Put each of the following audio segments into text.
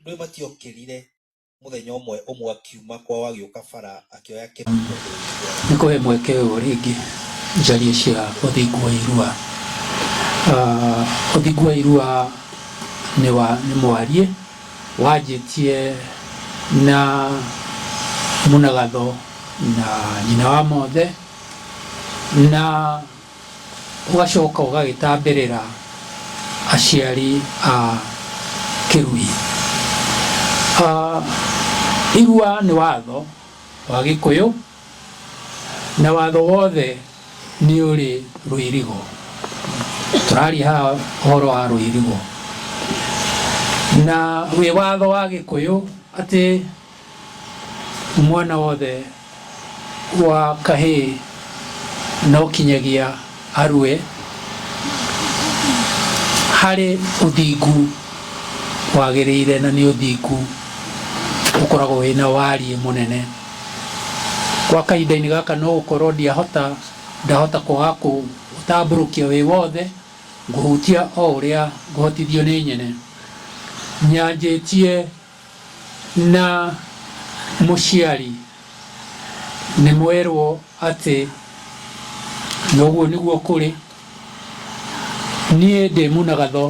Ndũĩ matiokĩrire mũthenya ũmwe ũmwe akiuma kwao agĩũka bara akĩoya kĩndũ Nĩ kũhe mweke ũyũ rĩngĩ njarie cia ũthingu wa irua. Ah, Ũthingu wa irua nĩ wa nĩ mwariĩ wanjĩtie na Munagatho na nyina wa mothe na ũgacoka ũgagĩtambĩrĩra aciari a Kĩrui. Irua nĩ watho wa Gĩkũyũ na watho wothe nĩ ũrĩ rũirigo. Tũraria haha ũhoro wa rũirigo na wĩ watho wa Gĩkũyũ atĩ... Mwana wothe wa kahĩĩ no kinyagia arue harĩ ũthingu wagĩrĩire na nĩ ũthingu ũkoragwo wĩna wariĩ mũnene. Gwa kahinda-inĩ gaka no gũkorwo ndiahota, ndahota kwaga kũũtambũrũkia wĩ wothe, ngũhutia o ũrĩa ngũhotithio nĩ nyene. Nyanjĩtie. Na mũciari nĩ mwerwo atĩ, Na ũguo nĩguo kũrĩ, niĩ ndĩ mũnagatho,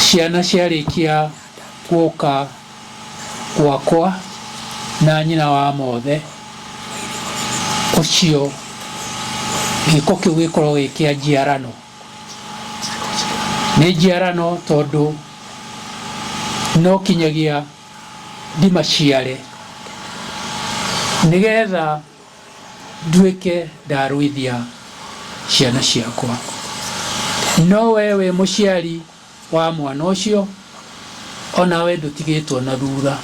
ciana ciarĩkia gũka gwakwa na nyina wa mothe, ũcio gĩko kĩu gĩkorwo gĩ kĩa njiarano. Nĩ njiarano tondũ no kinyagia ndimaciare nĩgetha nduĩke ndarũithia ciana ciakwa. No wee wĩ mũciari wa mwana ũcio onawe ndũtigĩtwo na thutha.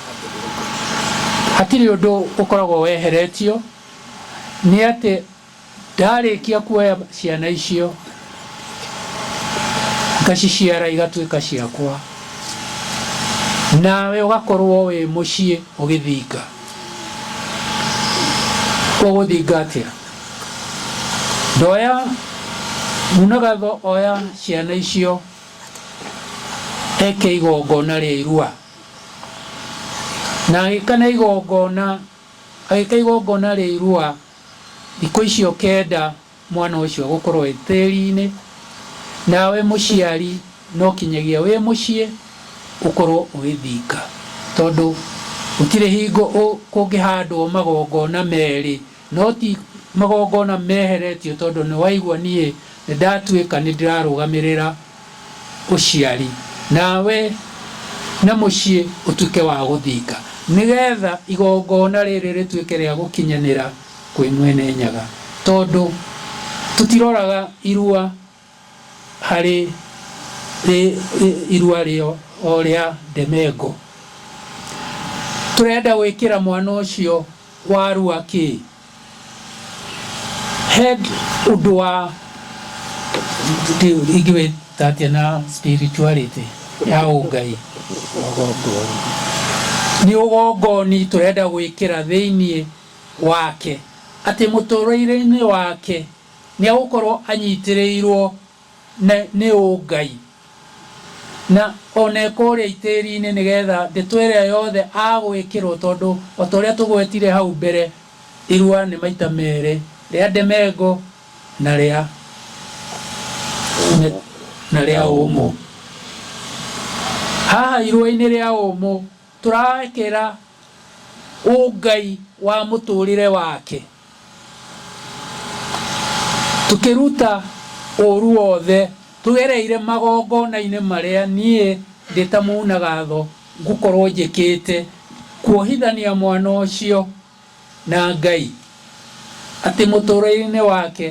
Hatirĩ ũndũ ũkoragwo weheretio nĩ atĩ... Ndarĩkia kuoya ciana icio ngaciciara igatuĩka ciakwa, nawe ũgakorwo wĩ mũciĩ ũgĩthinga, ũgũthinga atĩa? Ndoya Munagatho oya ciana icio eke igongona rĩa irua, na agĩka na igongona, agĩka igongona rĩa irua. Thikũ icio kenda mwana ũcio agũkorwo e tĩri-inĩ, nawe mũciari no kinyagia wĩ mũciĩ ũkorwo ũgĩthinga, tondũ gũtirĩ hingo kũngĩhandwo magongona merĩ, no ti magongona meheretio tondũ nĩwaigua niĩ nĩndatuĩka nĩndĩrarũgamĩrĩra ũciari, nawe na mũciĩ ũtuĩke wa gũthinga, nĩ getha igongona rĩrĩ rĩtuĩke rĩa gũkinyanĩra kwĩ Mwene Nyaga. Tondũ tũtiroraga irua harĩ irua o rĩa ndemengo. Tũrenda gwĩkĩra mwana ũcio warua kĩ? He ũndũ wa ingĩwĩta atĩa na spirituality ya ũngai nĩ ũgongoni tũrenda gwĩkĩra thĩinĩ wake atĩ mũtũrĩre-inĩ wake nĩ agũkorwo anyitĩrĩirwo na nĩ ũ Ngai? Na o na ĩkũũrĩa itĩĩri-inĩ nĩ getha ndeto ĩrĩa yothe agwĩkĩrwo tondũ o ta ũrĩa tũgwetire hau mbere, irũa nĩ maita meerĩ, rĩa ndemengo na rĩa na rĩa ũmũ. Haha irũa-inĩ rĩa ũmũ Tũraekera ũ Ngai wa mũtũrĩre wake, tũkĩruta ũũru wothe tũgereire magongona-inĩ marĩa niĩ ndĩ ta Mũnagatho ngũkorwo njĩkĩte kuohithania mwana ũcio na Ngai, atĩ mũtũrĩre-inĩ wake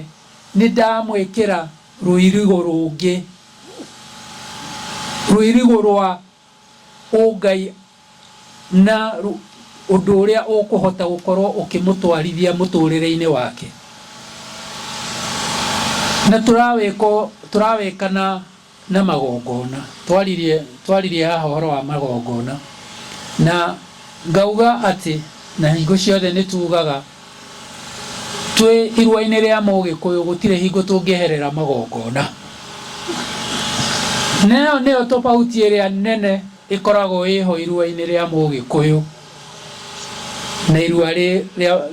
nĩ ndamwĩkĩra rũirigo rũngĩ, rũirigo rwa ũngai na ũndũ ũrĩa ũkũhota gũkorwo ũkĩmũtwarithia mũtũrĩre-inĩ wake. Na tũrawĩko tũrawĩka na na magongona. Twaririe twaririe haha ũhoro wa magongona. Na ngauga atĩ na hingo ciothe nĩtugaga. Twĩ iruainĩ rĩa Mũgĩkũyũ gũtirĩ hingo tũngĩeherera magongona. Na ĩyo nĩyo tofauti ĩrĩa nene ĩkoragwo ĩho iruainĩ rĩa Mũgĩkũyũ na irua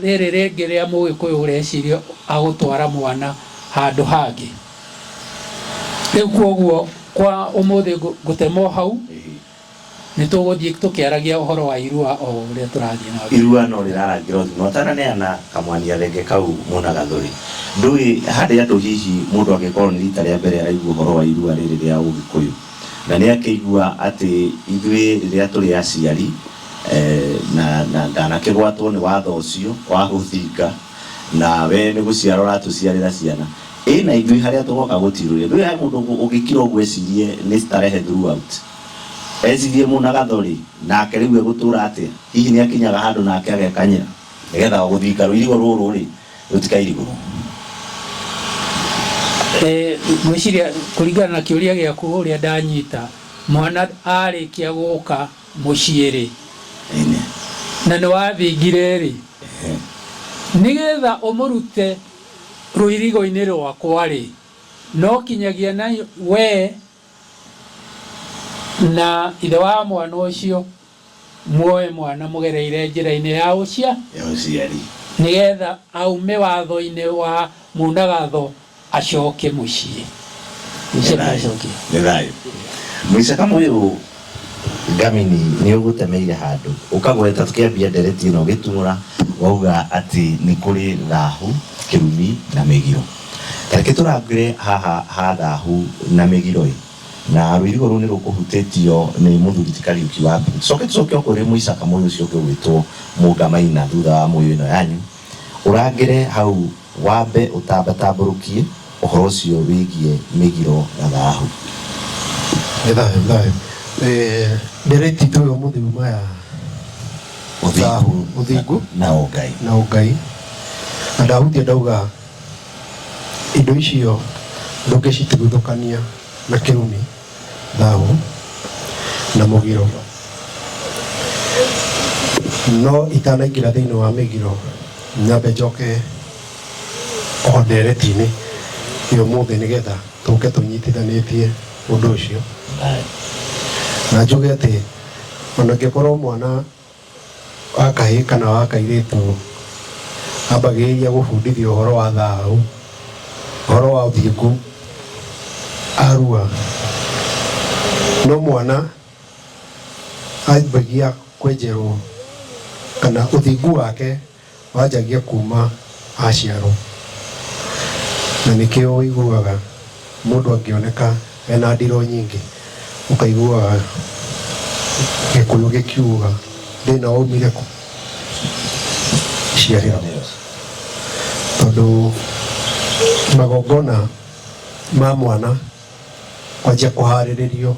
rĩrĩ rĩngĩ rĩa Mũgĩkũyũ ũreciria agũtwara mwana handũ hangĩ. Rĩu kwoguo kwa ũmũthĩ ngũtema o hau Nĩ tũgũthiĩ tũkĩaragia ũhoro wa Irua o ũrĩa tũrathiĩ na mbere. Irua no rĩrarangira ũthime ũtananeana kamwanya thenge kau muna gathuri. Ndũĩ harĩ andũ hihi mũndũ angĩkorwo nĩ rita rĩa mbere araigua ũhoro wa Irua rĩrĩ rĩa Ũgĩkũyũ na nĩ akĩigua atĩ ithuĩ rĩrĩa tũrĩ aciari na na ndanakĩgwatwo nĩ watho ũcio wa hũthinga na we nĩ gũciara ũratũciarĩra ciana Ĩĩ na ithuĩ harĩa tũgoka gũtirũrĩ. Rĩu he mũndũ ũngũ ũngĩkira ũguo ecirie nĩ starehe throughout. Ecirie mũnagatho rĩ, nake rĩu egũtũra atĩa? Hihi nĩakinyaga handũ nake agekanyĩra nĩgetha gũthinga rũirigo rũrũ rĩ, rũtikairigũrwo? Ngwĩciria kũringana na kĩũria gĩaku ũrĩa ndanyita, mwana arĩkia gũka mũciĩ rĩ, na nĩwathingire rĩ, nĩgetha ũmũrute. Rũirigo-inĩ rwakwa-rĩ, no kinyagia na wee na ithe wa mwana ũcio muoe mwana mũgereire njĩra-inĩ ya ũciari, nĩgetha aume watho-inĩ wa mũnagatho acoke mũciĩ. Nĩ thayũ. Mũicaka mũirũ Ngamini nĩ ũgũtemeire handũ ũkagweta tũkĩambia ndereti ĩno ũgĩtuura wauga atĩ nĩ kũrĩ thahu, kĩrumi na mĩgiro. Tareke tũrangĩre haha ha thahu na mĩgiro-ĩ, na rũirigo rũu nĩ rũkũhutĩtio nĩ mũthuri ti Kariuki wa mbere. Tũcoke tũcoke o kũrĩ mũicaka mũyũ ũcio ũngĩ ũgwĩtwo Mũngamaina thutha wa mũyũ ĩno yanyu, ũrangĩre hau. Wambe ũtambatambũrũkie ũhoro ũcio wĩgiĩ mĩgiro na thahu. Nĩ thayũ, nĩ thayũ. Nĩ rĩti ndũĩ ũmũthĩ uma ya thahu, ũthingu na ũngai. Na ũngai. Na ndahutia ndauga indo icio ndũngĩcituguthũkania na kĩrumi. thahu na mũgiro, no itanaingĩra thĩinĩ wa mĩgiro nyambe njoke o ndereti-inĩ ĩ ũmũthĩ nĩgetha tũke tũnyitithanĩtie ũndũ ũcio na njuge atĩ ona angĩkorwo mwana wa kahĩĩ kana wa kairĩtu ambagĩrĩria gũbundithio ũhoro wa thayũ, ũhoro wa ũthingu, arua. No mwana ambagia kwenjerwo kana ũthingu wake Wanjagia kuuma aciarwo. Na nĩkĩo ũiguaga mũndũ angĩoneka ena ndiro nyingĩ, ũkaiguaga Gĩkũyũ gĩkiuga, thĩna waumire kũ? Ciarĩro. Tondũ magongona ma mwana kwanjia kũharĩrĩrio.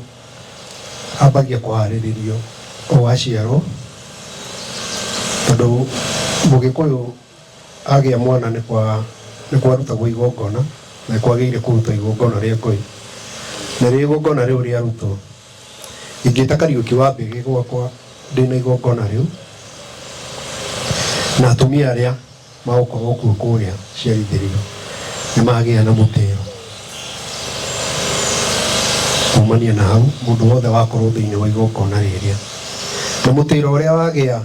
ambagia kũharĩrĩrio o aciarwo, tondũ mũgĩkũyũ agĩa mwana nĩ kwa nĩ kwarutagwo igongona na nĩ kwagĩrĩire kũruta igongona rĩa ngũyũ. Narĩo igongona rĩu rĩarutwo, ingĩta Kariũki wa mbĩgĩ gwakwa ndĩna igongona rĩu, na atumia arĩa Magũkorwo kuo kũrĩa ciaritĩrĩra nĩ magĩa na mũtĩo. Kumania na hau, mũndũ wothe wakorwo thĩinĩ wa igongona rĩrĩa, na mũtĩro ũrĩa wagĩa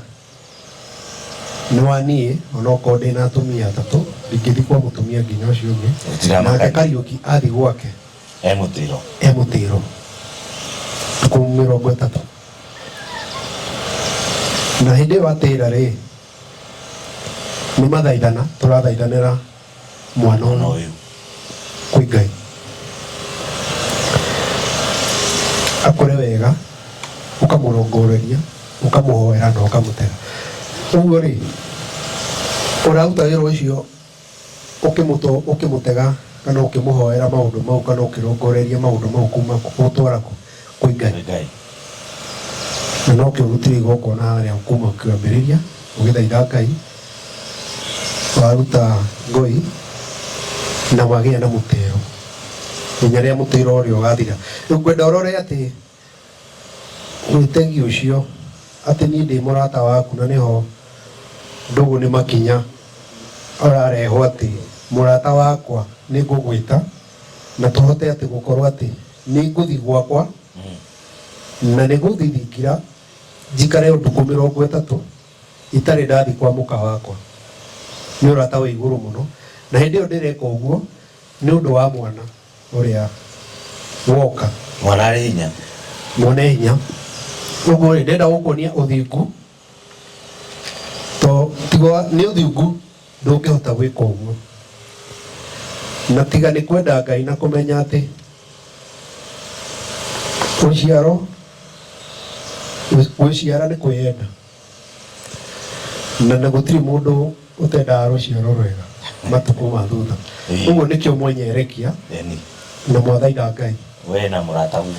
nĩ wa niĩ, onokorwo ndĩ na atumia atatũ, ndingĩthiĩ kwa mũtumia nginya ũcio ũngĩ, Gũtiramakania. nake Kariũki athiĩ gwake e mũtĩro e mũtĩro thikũ mĩrongo ĩtatũ na hĩndĩ ĩyo atĩra rĩ nĩ mathaithana tũrathaithanĩra mwana ona ũyũ kwĩ ngai akũre wega ũkamũrongoreria ũkamũhoera na ũkamũtega ũguo rĩ ũraruta wĩra ũcio Ũkĩmũtũ, ũkĩmũtega, kana ũkĩmũhoera maũndũ mau, kana ũkĩrongoreria maũndũ mau kuuma kũ? Gũtwara kũ? Kwĩ Ngai. Kwĩ Ngai. Na nokĩo ũrutire igongona harĩa kuuma kĩambĩrĩria, ũgĩthaitha Ngai, waruta ngoi, na wagĩa na mũtĩĩo, nginya rĩrĩa mũtĩĩro ũrĩa ũgaathira. Rĩu ngwenda ũrore atĩ. Mwĩtegi ũcio, atĩ niĩ ndĩ mũrata waku na nĩho ndũgũ nĩ makinya ararehwo atĩ mũrata wakwa nĩ ngũgwĩta na tũhote atĩ gũkorwo atĩ nĩ ngũthi gwakwa na nĩ gũthithingira njikare ũtukũ mĩrongo ĩtatũ itarĩ ndathi kwa mũka wakwa. Nĩ ũrata wĩ igũrũ mũno na hĩndĩ ĩyo ndĩreka ũguo nĩ ũndũ wa mwana. ũrĩa woka. Mwana arĩ hinya. Mwene hinya. Ũguo rĩ, ndĩrenda gũkuonia ũthingu, to tiga nĩ ũthingu ndũngĩhota gwĩka ũguo, na tiga nĩ kwenda Ngai na kũmenya atĩ ũciaro, gwĩciara nĩ kwĩyenda. na na gũtirĩ mũndũ ũtendaga rũciaro rwega matukũ ma thutha Ĩĩ. ũguo nĩkĩo mwenyerekia Eni. na mwathaitha ngai We na mũrata guo.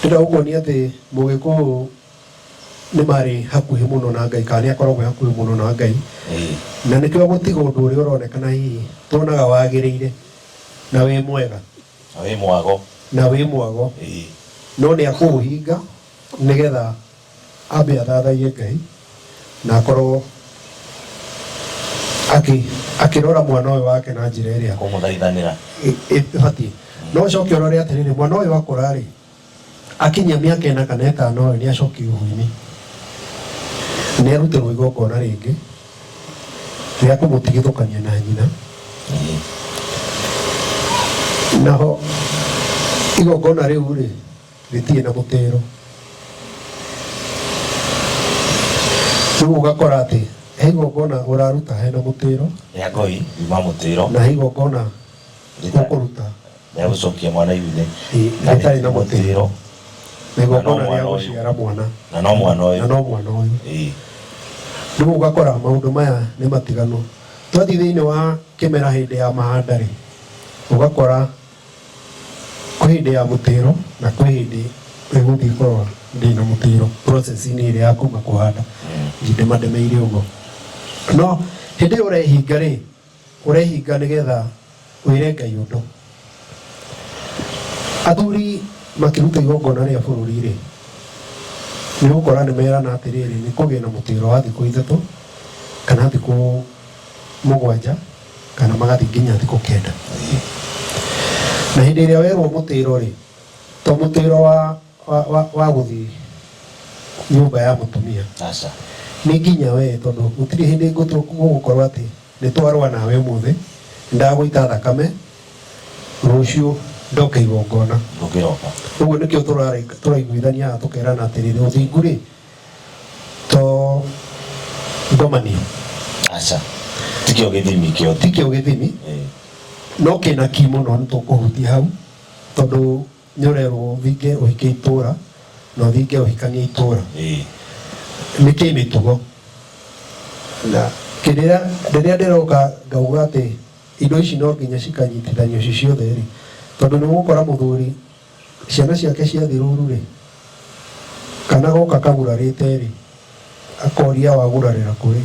ndĩrenda gũkuonia atĩ mũgĩkũyũ nĩ marĩ hakuhĩ mũno na ngai kana nĩ akoragwo e hakuhĩ mũno na ngai Ĩĩ. na nĩkĩo gũtiga ũndũ ũrĩa ũronekana hihi tuonaga wagĩrĩire na wĩ mwega Na wĩ mwago. na wĩ mwago Ĩĩ. no nĩ akũũhinga nĩgetha ambe athathaie ngai na akorwo akĩ- akĩrora mwana ũyũ wake na njĩra ĩrĩa kũmũthaithanĩra ĩ- ĩ- ĩbatiĩ no ũcoke ũrore atĩrĩrĩ mwana ũyũ akũra rĩ akinyia mĩaka ĩna kana ĩtano rĩ nĩ acoki ũhuinĩ nĩ arutirwo igongona rĩngĩ rĩa kũmũtigithũkania na nyina naho igongona rĩu rĩ rĩtirĩ na mũtĩro rĩu ũgakora atĩ he igongona ũraruta hena mũtĩro rĩa ngoi yuma mũtĩro na he igongona ũkũruta rĩa gũcokia mwana iunĩ ĩ- rĩtarĩ na mũtĩro na igongona Na no rĩa mwana ũyũ. gũciara mwana na no mwana na ũyũ no mwana ũyũ Ĩĩ. rĩu ũgakora maũndũ maya nĩ matiganu twathiĩ thĩinĩ wa kĩmera hĩndĩ ya mahanda rĩ ũgakora Kwĩ hĩndĩ ya mũtĩro na kwĩ hĩndĩ ĩgũthiĩ korwo ndĩ na mũtĩro process-inĩ ĩrĩa ya kuma kũhanda ndĩmademeire ũguo no hĩndĩ ĩyo ũrehinga rĩ ũrehinga nĩgetha wĩre Ngai ũndũ athuri makĩruta igongona rĩa bũrũri rĩ nĩ ũgũkora nĩ merana atĩrĩrĩ nĩ kũgĩa na mũtĩro wa thikũ ithatũ kana thikũ mũgwanja kana magathiĩ nginya thikũ kenda na hĩndĩ ĩrĩa werwo mũtĩro rĩ to mũtĩro wa, wa, wa, wa gũthiĩ nyũmba ya mũtumia aca nĩ nginya we tondũ gũtirĩ hĩndĩ ngũtũ- gũgũkorwo atĩ nĩ twarũa nawe ũmũthĩ ndagũita thakame rũciũ ndoke igongona ndũngĩroka ũguo nĩkĩo tũrarĩ- tũraiguithania haha tũkerana atĩrĩrĩ ũthingu rĩ to ngomanio aca tikio githimi kio ti kĩo gĩthimi no kĩna ki mũno nĩ tũkũhutia hau tondũ nĩ ũrerwo ũthinge ũhike itũra na ũthinge ũhikanie itũra nĩ kĩ mĩtugo na kĩrĩa rĩrĩa ndĩroka ngauga atĩ indo ici no nginya cikanyitithanio ci ciothe rĩ tondũ nĩ ũgũkora mũthuri Ciana ciake ciathiĩ rũũru-rĩ, kana goka kagurarĩte-rĩ, akoria wagurarĩra kũrĩ?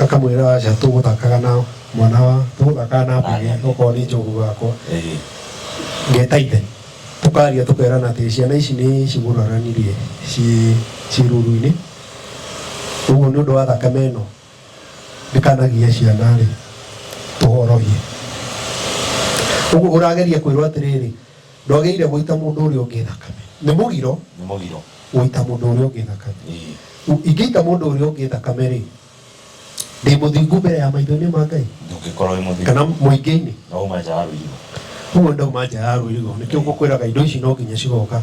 Akamwĩra aca tũgũthakaga na mwana wa, tũgũthakaga na mbũri okorwo nĩ njogu gakwa. Ngeta ithe, tũkaria tũkerana atĩrĩ, ciana ici nĩ ciguraranirie ciĩ rũũru-inĩ, ũguo nĩ ũndũ wa thakame ĩno ndikanagie ciana-rĩ tũhorohie ũguo ũrageria kwĩrwo atĩrĩrĩ ndwagĩrĩire gũita mũndũ ũrĩa ũngĩ thakame nĩ mũgiro nĩ mũgiro gũita mũndũ ũrĩa ũngĩ thakame Ĩĩ. U- ingĩita mũndũ ũrĩa ũngĩ thakame rĩ ndĩ mũthingu mbere ya maitho-inĩ ma ngai ndũngĩkorwo wĩ mũthingu kana mũingĩ-inĩ no uma nja ya rũirigo ũguo ndauma nja ya rũirigo nĩkĩo ngũkwĩraga indo ici no nginya cigoka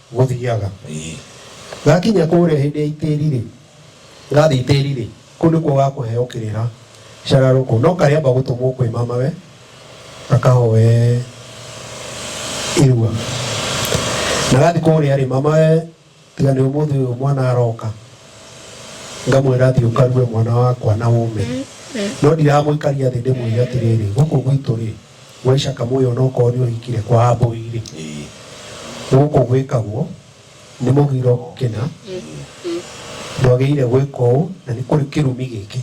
gũthiaga. Ĩĩ. Ngakinya kũũrĩa hĩndĩ ya itĩĩri-rĩ, ngathiĩ itĩĩri-rĩ, kũu nĩkuo ũgakũheo kĩrĩra cararũkũ, no karĩamba gũtũmwo kwĩ mamawe gakahoe irua. Na gathiĩ kũũrĩa-rĩ, mamawe tiga nĩ ũmũthĩ ũyũ mwana aroka, ngamwĩra thiĩ ũkarue mwana wakwa na ũme. No ndiramũikaria thĩ ndĩmwĩre atĩrĩrĩ, gũkũ gwitũ-rĩ, Waica kamũĩ onokorwo nĩũhikire kwa ambũi-rĩ, gũkũ gwĩkagwo nĩ mũgiro kĩna ndwagĩrĩire gwĩka ũũ na nĩ kũrĩ kĩrumi gĩkĩ.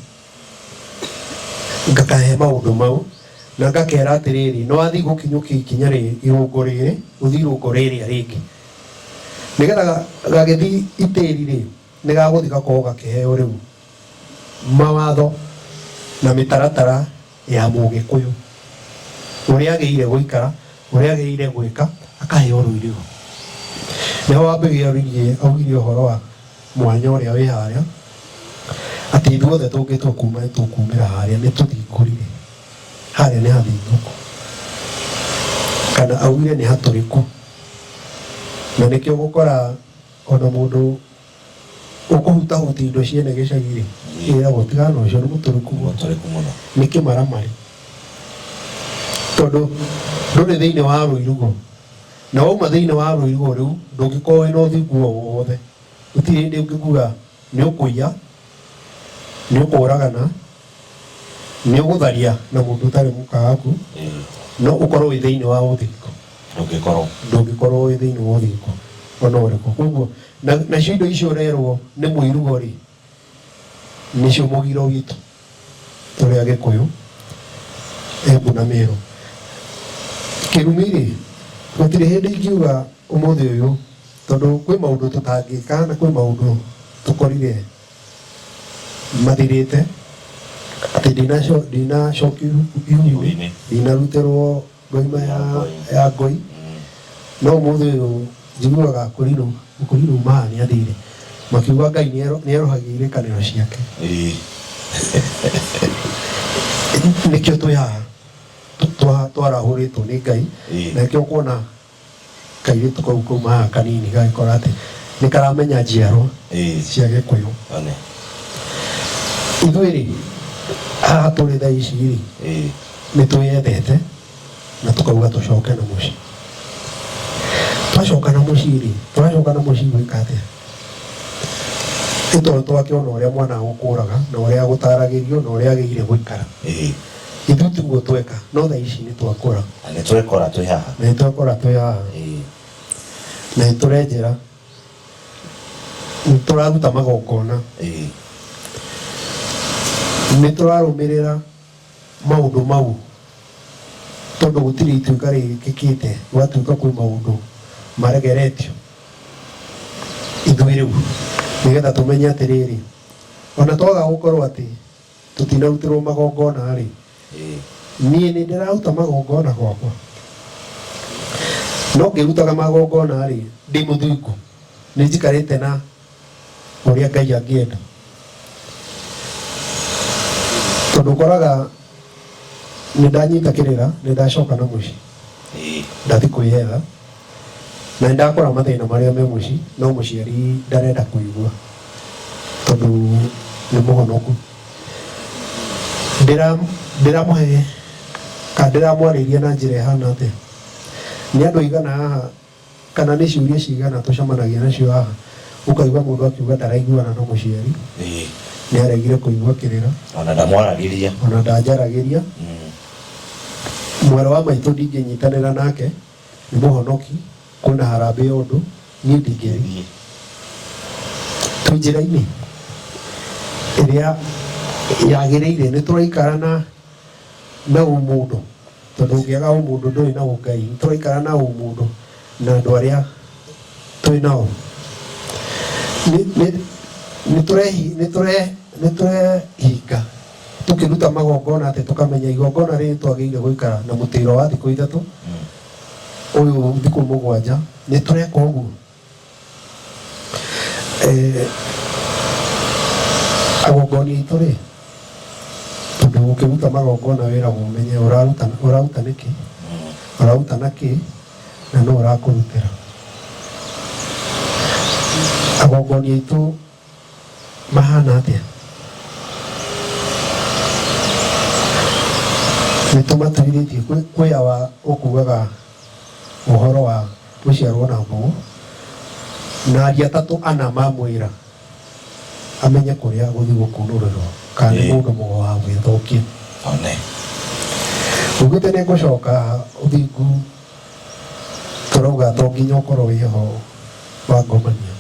Ngakahe maũndũ mau na ngakera atĩrĩrĩ, nĩwathiĩ gũkinyũkia ikinya rĩrĩ, irũngo rĩrĩ, ũthiĩ irũngo rĩrĩa rĩngĩ. Nĩgetha gagĩthiĩ itĩri-rĩ. Nĩ gagũthiĩ gakorwo gakĩheo rĩu mawatho na mĩtaratara ya Mũgĩkũyũ, ũrĩa agĩrĩire gũikara, ũrĩa agĩrĩire gwĩka, akaheo rũiri rũu. Nĩho wambĩrĩirie augire ũhoro wa mwanya ũrĩa wĩ harĩa, atĩ ithuothe tũngĩtua kuma nĩ tũkumĩra harĩa nĩ tũthingũrire, harĩa nĩ hathingũku, kana augire nĩ hatũrĩku, na nĩkĩo ũgũkora, O na mũndũ ũkũhutahutia indo cia ene gĩcagi-rĩ, nĩeragwo tigana na ũcio, nĩ mũtũrĩku mũno, nĩ kĩmaramari. Tondũ ndũrĩ thĩinĩ wa rũirigo, na wauma thĩinĩ wa rũirigo rũu, ndũngĩkorwo wĩ na ũthingu o wothe, gũtirĩ hĩndĩ ũngĩkua. Nĩũkũiya, nĩũkũũragana, nĩũgũtharia na mũndũ ũtarĩ mũka waku, no ũkorwo wĩ thĩinĩ wa ũthiriko, ndũngĩkorwo ndũngĩkorwo wĩ thĩinĩ wa ũthiriko o na ũrĩkũ. Kwoguo, na nacio indo icio ũrerwo nĩ mũirugo-rĩ, nĩcio mũgiro witũ. tũrĩ Agĩkũyũ, Embu na Mĩrũ. Kĩguni-rĩ, gũtirĩ hĩndĩ ingiuga ũmũthĩ ũyũ tondũ kwĩ maũndũ tũtangĩka na kwĩ maũndũ tũkorire mathirĩte, atĩ ndinacokia ihu ihu-inĩ, ndinarutĩrwo Ngoima ya, ya ngũi no mũthĩ ũyũ njiguaga kũrirwo kũrirwo maa nĩ andĩire makiuga ngai nĩ erohagia irĩkanĩro ciake nĩkĩo twĩ haha twarahũrĩtwo nĩ ngai na nĩkĩo kuona kairĩtu kau kaumaga kanini gagĩkora atĩ nĩ karamenya njiarwa Ĩĩ. cia gĩkũyũ One. ithuĩ rĩ haha tũrĩ thaa ici rĩ Ĩĩ. nĩ twĩyendete na tũkauga tũcoke na mũciĩ twacoka na mũciĩ rĩ tũracoka na mũciĩ gwĩka atĩa nĩ tondũ twakĩona ũrĩa mwana agũkũraga na ũrĩa agũtaragĩrio na ũrĩa agĩire gũikara Ĩĩ. Ithuĩ tiguo tweka no thaa ici nĩ twakũra Na nĩ twekora twĩ haha. na nĩ twakũra twĩ haha Ĩĩ. na nĩ tũrenjera nĩ tũraruta magongona Ĩĩ. nĩ tũrarũmĩrĩra maũndũ mau tondũ gũtirĩ ituĩka rĩkĩkĩte gwatuĩka kwĩ maũndũ maregeretio ithuĩ rĩu nĩgetha tũmenye atĩrĩrĩ ona twaga gũkorwo atĩ tũtinarutĩrwo magongona-rĩ, niĩ nĩndĩraruta magongona gwakwa? No ngĩrutaga magongona-rĩ, ndĩ mũthingu? Nĩnjikarĩte na ũrĩa Ngai angĩenda? Tondũ ũkoraga nĩndanyita kĩrĩra, nĩndacoka na mũciĩ, ndathiĩ kwĩyetha. na nĩ ndakora mathĩna marĩa me mũciĩ no mũciari ndarenda kũigua tondũ nĩ mũhonoku Ndĩra- ndĩramũhe kana ndĩramwarĩria na njĩra ĩhana atĩa nĩ andũ aigana haha kana nĩ ciũria cigana tũcemanagia nacio haha ũkaigua mũndũ akiuga ndaraiguana na mũciari Ĩĩ, nĩ aregire kũigua kĩrĩra ona ndamwaragĩria ona ndanjaragĩria Mm. mwarĩ wa maitũ ndingĩnyitanĩra nake nĩ mũhonoki kwĩna harambĩ ya ũndũ niĩ ndingĩthiĩ twĩ njĩra-inĩ ĩrĩa yagĩrĩire nĩ tũraikara na na ũmũndũ tondũ ũngĩaga ũmũndũ ndũrĩ na ũngai nĩ tũraikara na ũmũndũ na andũ arĩa twĩ nao nĩ tũrehinga tũkĩruta magongona atĩ tũkamenya igongona rĩrĩ twagĩrĩire gũikara na mũtĩro wa thikũ ithatũ ũyũ thikũ mũgwanja nĩ tũreka ũguo Eh, agongoni aitũ rĩ tondũ ũkĩruta magongona wĩragwo ũmenye ũraruta ũraruta nĩkĩ ũraruta na kĩ na no ũrakũrutĩra agongoni aitũ mahana atĩa nĩ tũmatigithĩtie kwĩ- kwĩ awa ũkugaga ũhoro wa gũciarwo na mbugu na aria atatũ ana mamwĩra amenye kũrĩa gũthiĩ gũkunũrĩrwo kana nĩ Ĩĩ. mũndũ mũgo wa gwĩthũkia one ugĩte nĩ ngũcoka ũthingu tũrauga to nginya ũkorwo wĩ ho wangomania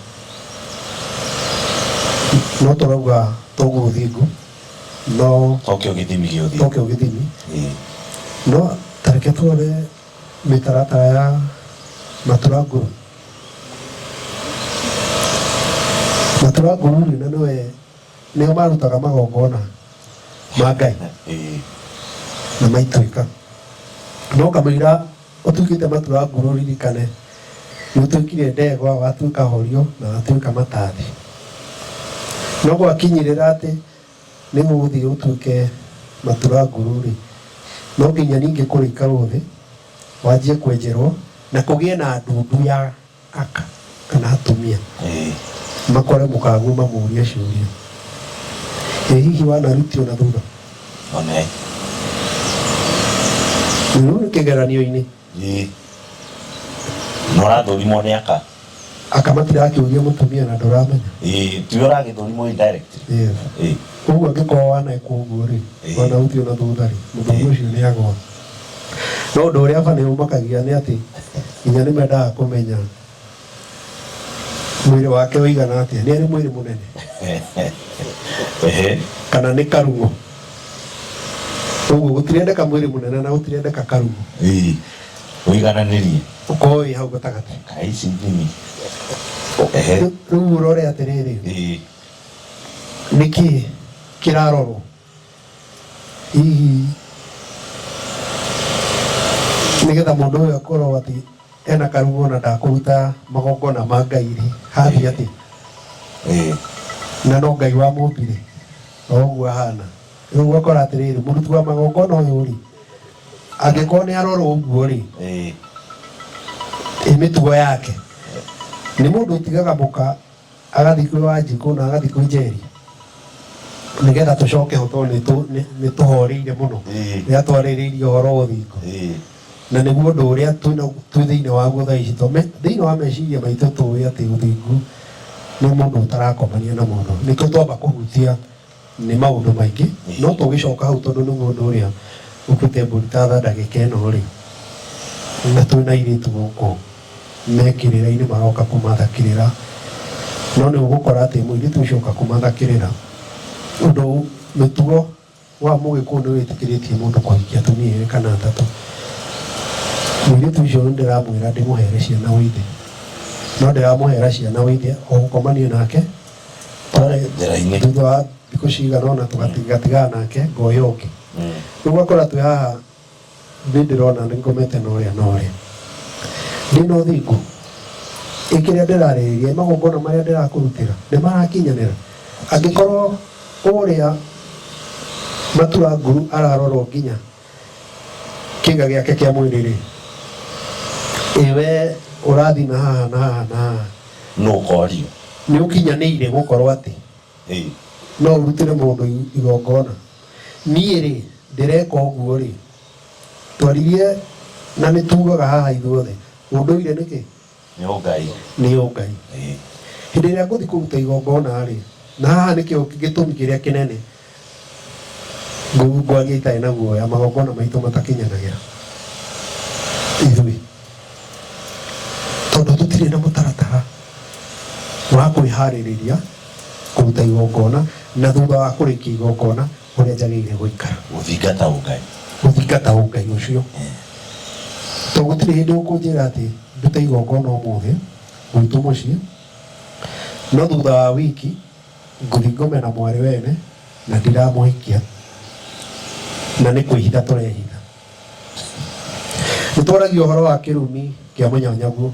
no tũrauga toguo ũthingu no tokio gĩthimi gĩa ũthingu tokio gĩthimi no tareke tuone mĩtaratara ya matura ngũrũ matura ngũrũ rĩ na nĩwe nĩo marutaga magongona ma ngai Eh, na maituĩka no kamũira ũtuĩkĩte matura nguru ririkane nĩ ũtuĩkire ndegwa watuĩka horio na watuĩka matathi no gwakinyĩrĩra atĩ nĩ gũgũthiĩ ũtuĩke matura nguru rĩ no nginya ningĩ kũrĩka ũthĩ wanjie kwenjerwo na kũgĩe na ndundu ya aka kana atumia makore mũkaguo mamũrie ciũria ĩ hihi wanarutio na thutha Amen. rĩu nĩ kĩgeranio-inĩ Ĩĩ. Na ũrathũrimwo nĩ aka. aka matirakĩũria mũtumia na ndũramenya Ĩĩ, tiwe ũragĩthũrimwo indirect. Yes. Ĩĩ. ũguo angĩkorwo wanekwo ũguo rĩ Ĩĩ. wanarutio na thutha rĩ mũthuri ũcio nĩ agwa No ũndũ ũrĩa aba nĩ ũmakagia nĩ atĩ nginya nĩ mendaga kũmenya mwĩrĩ wake ũigana atĩa. Nĩ arĩ mwĩrĩ mũnene Ehe. kana nĩ karugo. Ũguo gũtirendeka mwĩrĩ mũnene na gũtirendeka karugo. Ii. Ũigananĩrie. Ũkorwo wĩ hau gatagatĩ. Kai ici ndini. Ehe. Rĩu ũrore atĩrĩrĩ, Ii. nĩkĩ kĩrarorwo? hihi nĩgetha mũndũ ũyũ akorwo atĩ ena karuo na ndakũruta magongona ma ngai rĩ hathiĩ atĩ Eh, na no ngai wa mũmbire oguo ahana rĩu ũgakora atĩrĩrĩ mũruti wa magongona ũyũ rĩ angĩkorwo nĩ arorwo ũguo rĩ eh, ĩ mĩtugo yake nĩ mũndũ ũtigaga mũka agathiĩ kwĩ wanjikũ na agathiĩ kwĩ njeri nĩgetha tũcoke ho tondũ nĩtũ- nĩ- nĩtũhoreire mũno Ĩĩ. rĩrĩa twarĩrĩirie ũhoro wa ũthingu Ĩĩ. na nĩguo ũndũ ũrĩa twĩ na- twĩ thĩinĩ waguo thaa ici tome- thĩinĩ wa meciria maitũ tũĩ atĩ ũthingu nĩ mũndũ ũtarakomania na mũndũ nĩkĩo twamba kũhutia Nĩ maũndũ maingĩ no tũgĩcoka hau tondũ nĩ mũndũ ũrĩa ũkĩte mbũri ta tha ndagĩka ĩno rĩ na twĩ na airĩtu gũkũ me kĩrĩra-inĩ maroka kũmatha kĩrĩra no nĩ ũgũkora atĩ mũirĩtu ũcio oka kũmatha kĩrĩra ũndũ mĩtugo wa mũgĩkũyũ nĩ wĩtĩkĩrĩtie mũndũ kũhikia atumia erĩ kana atatũ mũirĩtu ũcio nĩ ndĩramwĩra ndĩmũhere ciana wĩ ithe no ndĩramũhera ciana wĩ ithe o gũkomania nake twarĩ njĩra-inĩ thutha wa thikũ cigana ũna tũgatigana nake ngoya ũngĩ Mm. rĩu ũgakora twĩ haha nĩ ndĩrona nĩ ngomete na ũrĩa na ũrĩa ndĩ na ũthingu ĩ kĩrĩa ndĩrarĩrĩria magongona marĩa ndĩrakũrutĩra nĩ marakinyanĩra angĩkorwo ũrĩa matua nguru ararorwo nginya kĩĩga gĩake kĩa mwĩrĩ-rĩ, ĩ wee ũrathime haha na haha na haha, nũ ũkoorio? Nĩũkinyanĩire gũkorwo atĩ Ĩ! no ũrutĩre mũndũ i- igongona? Niĩ-rĩ, ndĩreka ũguo-rĩ, twaririe na nĩtuugaga haha ithuothe, ũndũire nĩkĩ? Nĩ ũngai. Nĩ ũngai. Hĩndĩ ĩrĩa ngũthiĩ kũruta igongona-rĩ, na haha nĩkĩo gĩtũmi kĩrĩa kĩnene ngwaria itarĩ na guoya, magongona maitũ matakinyanagĩra ithuĩ, tondũ tũtirĩ na mũtaratara wa kwĩharĩrĩria kũruta igongona, na thutha wa kũrĩkia igongona. kũrĩa njagĩrĩire gũikara Gũthingata ũngai. gũthingata ũngai ũcio to gũtirĩ hĩndĩ ũkũnjĩra atĩ ndute igongona ũmũthĩ gwitũ mũciĩ no thutha wa wiki ngũthiĩ ngome na mwarĩ wene na ndiramũhikia na nĩ kwĩhitha tũrehitha nĩ twaragia ũhoro wa kĩrumi kĩa mũnyanyaguo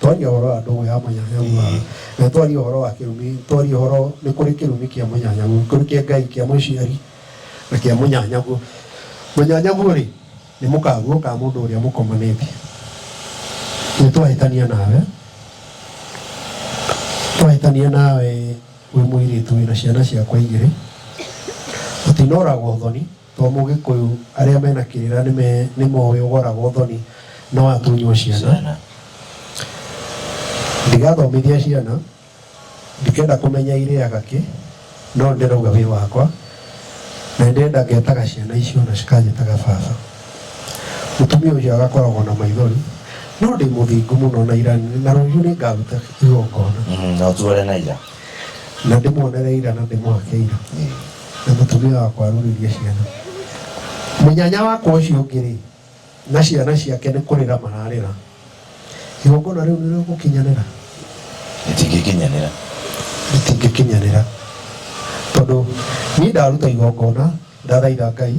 twaria horo wa ndogo ya mũnyanyagu na twaria horo wa kirumi twaria horo ni kuri kirumi kia mũnyanyagu kuri kia ngai kia mũciari na kia mũnyanyagu mũnyanyagu ri ni mukaguo ka mundu uria mukomanite ni twahitania nawe twahitania nawe wi muiritu wina ciana ciakwa igiri utinoragwo thoni To mũgĩkũyũ arĩa mena kĩrĩra nĩme nĩmoĩ ũgoragwo thoni no atunywo ciana ndigathomithia ciana ndikenda kũmenya irĩaga kĩ no ndĩrauga wĩ wakwa na ndĩrenda ngetaga ciana icio na cikanjĩtaga baba mũtumia ũcio agakoragwo na maithori no ndĩ mũthingu mũno na ira na rũciũ nĩngaruta igongona Mm, na ũtuore na ira na ndĩmuonere ira na ndĩmwake ira na mũtumia wakwa arũrĩrie ciana mũnyanya wakwa ũcio ũngĩ-rĩ na ciana ciake nĩ kũrĩra mararĩra igongona rĩu nĩ rĩgũkinyanĩra rĩtingĩkinyanĩra rĩtingĩkinyanĩra tondũ niĩ ndaruta igongona ndathaitha ngai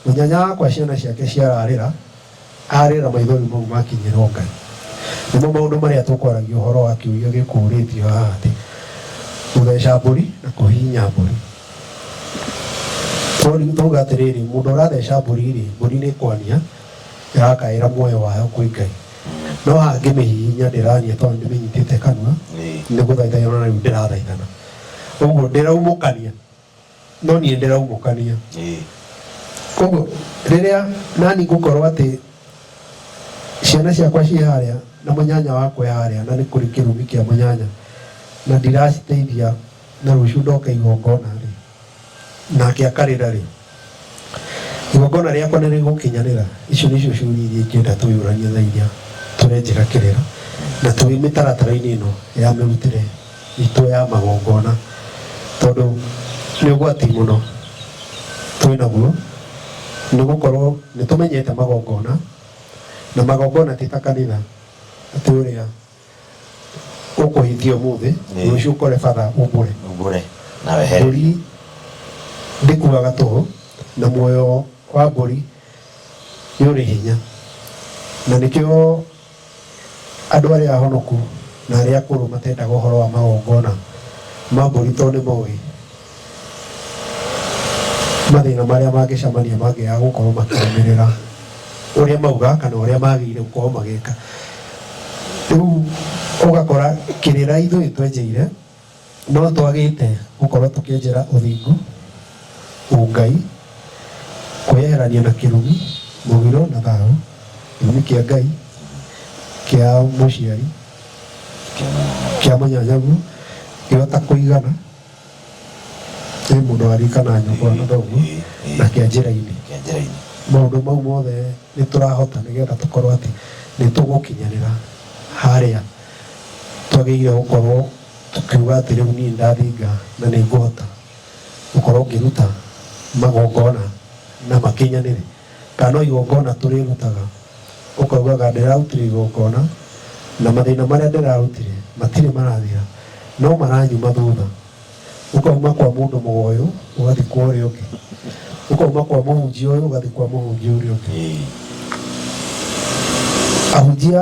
mũnyanya wakwa ciana ciake ciararĩra Arĩ na maithori mau makinyĩrwo Ngai. Nĩmo maũndũ marĩa tũkwaragia ũhoro wa kĩũria gĩkũũrĩtio haha atĩ, Gũtheca mbũri na kũhihinya mbũri. Twaria, twauga atĩrĩrĩ, mũndũ ũratheca mbũri-rĩ, mbũri nĩ kwania ĩrakaĩra muoyo wayo kwĩ Ngai. No haha ngĩmĩhihinya ndĩrania tondũ ndĩmĩnyitĩte kanua, nĩ gũthaitha yonanagia rĩu ndĩrathaithana. Ũguo ndĩraumũkania no niĩ ndĩraugũkania Ĩĩ. koguo rĩrĩa nani ngũkorwo atĩ ciana ciakwa ciĩ harĩa na mũnyanya wakwa e harĩa na nĩ kũrĩ kĩrumi kĩa mũnyanya na ndiraciteithia na rũciũ ndoka igongona rĩ nake akarĩra rĩ igongona rĩakwa nĩ rĩgũkinyanĩra icio nĩ icio ciũria iria ingĩenda twĩyũranie thaa iria tũrenjĩra kĩrĩra na tũrĩ mĩtaratara-inĩ ĩno ya mĩrutĩre itũ ya magongona tondũ nĩ ũgwati mũno twĩ naguo nĩ gũkorwo nĩ tũmenyete magongona na magongona ti ta kanitha atĩ ũrĩa ũkũhĩtia ũmũthĩ Ĩĩ. rũciũ ũkore batha ũmbũre mbure na wehere mbũri ndĩkuaga toro na muoyo wa mbũri nĩ ũrĩ hinya na nĩkĩo andũ arĩa ahonoku na arĩa akũrũ matendaga ũhoro wa magongona ma mbũri tondũ nĩ moĩ mathĩna marĩa mangĩcamania mangĩaga gũkorwo makĩrũmĩrĩra ũrĩa mauga kana ũrĩa magĩrĩire gũkorwo magĩka rĩu ũgakora kĩrĩra ithuĩ twenjeire no twagĩte gũkorwo tũkĩenjera ũthingu ũngai kwĩyeherania na kĩrumi mũgiro na thayũ gĩtũmi kĩa ngai kĩa mũciari kĩa mũnyanyagu gĩota kũigana nĩ mũndũ warikana nyũkwa na thoguo Ĩĩ, ĩĩ. na kĩa njĩra-inĩ Kĩa njĩra-inĩ. maũndũ mau mothe nĩ tũrahota nĩgetha tũkorwo atĩ nĩ tũgũkinyanĩra harĩa twagĩrĩire gũkorwo tũkiuga atĩ rĩu niĩ ndathinga na nĩ ngũhota gũkorwo ngĩruta magongona na makinyanĩre Kana o igongona tũrĩrutaga, ũkaugaga, 'Ndĩrarutire igongona, na mathĩna marĩa ndĩrarutire matirĩ marathira, no maranyuma thutha. Ũkauma kwa mũndũ mũgo ũyũ, ũgathiĩ kwa ũrĩa ũngĩ, ũkauma kwa mũhunjia ũyũ, ũgathiĩ kwa mũhunjia ũrĩa ũngĩ. Ahunjia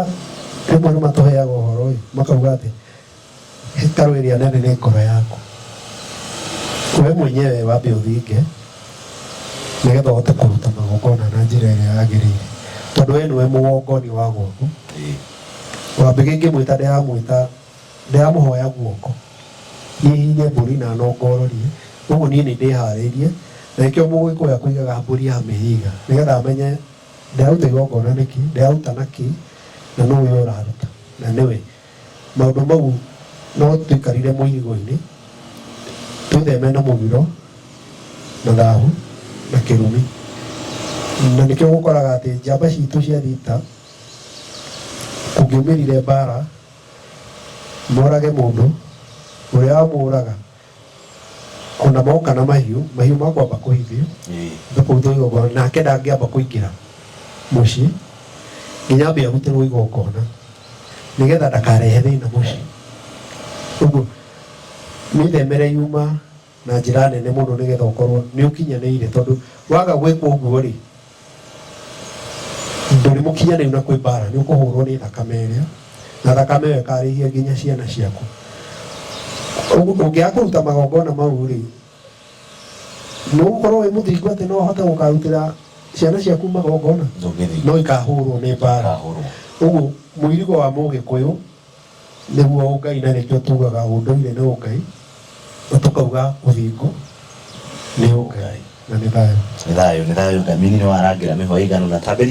rĩmwe nĩ matũheaga ũhoro-ĩ, makauga atĩ, Hekarũ ĩrĩa nene nĩ ngoro yaku. We mwenyewe wambe ũthinge nĩgetha ũhote kũruta magongona na njĩra ĩrĩa yagĩrĩire, tondũ we nĩwe mũgongoni wa gwaku. Wambega ĩngĩmwĩta ndĩramwĩta, ndĩramũhoya guoko, niĩ hihinye mbũri na nongororie, ũguo niĩ nĩndĩharĩirie, na nĩkĩo Mũgĩkũyũ akũigaga mbũri ya mĩhĩiga, nĩgetha amenye ndĩraruta igongona nĩkĩ, ndĩraruta nakĩ, na nũũ ũyũ ũraruta, na nĩwe. Maũndũ mau no tũikarire mũirigo-inĩ, twĩtheme na mũgiro, na thahu, na kĩrumi. Na nĩkĩo ũkoraga atĩ njamba citũ cia thita, kũngĩumĩrire mbara, morage mũndũ, ũrĩa wamũraga, o na moka na mahiũ mahiũ makwamba kũhithio thũkũthũ igongona nake ndangĩamba kũingĩra mũciĩ nginya ambe arutĩrwo igongona nĩgetha ndakarehe thĩna mũciĩ ũguo mĩthemere yuma na njĩra nene mũno nĩgetha ũkorwo nĩ ũkinyanĩire tondũ waga gwĩkwo ũguo rĩ ndũrĩ mũkinyanĩru na kwĩ mbara nĩ ũkũhũrwo nĩ thakame ĩrĩa na thakame ĩyo ĩkarĩhia nginya ciana ciaku Ũgu- ũngĩaga kũruta magongona mau rĩ nĩ ũgũkorwo wĩ mũthingu atĩ no ũhote gũkarutĩra ciana ciaku magongona ndũngĩthiĩ no ikahũrwo nĩ mbara ũguo mũirigo wa mũgĩkũyũ Nĩguo ũngai na nĩkĩo tugaga ũndũire nĩ ũngai na tũkauga ũthingu nĩ ũngai na nĩ thayũ. Nĩ thayũ, nĩ thayũ Ngai. Mini nĩ warangĩra mĩhwa ĩigana ũna. Tambĩria.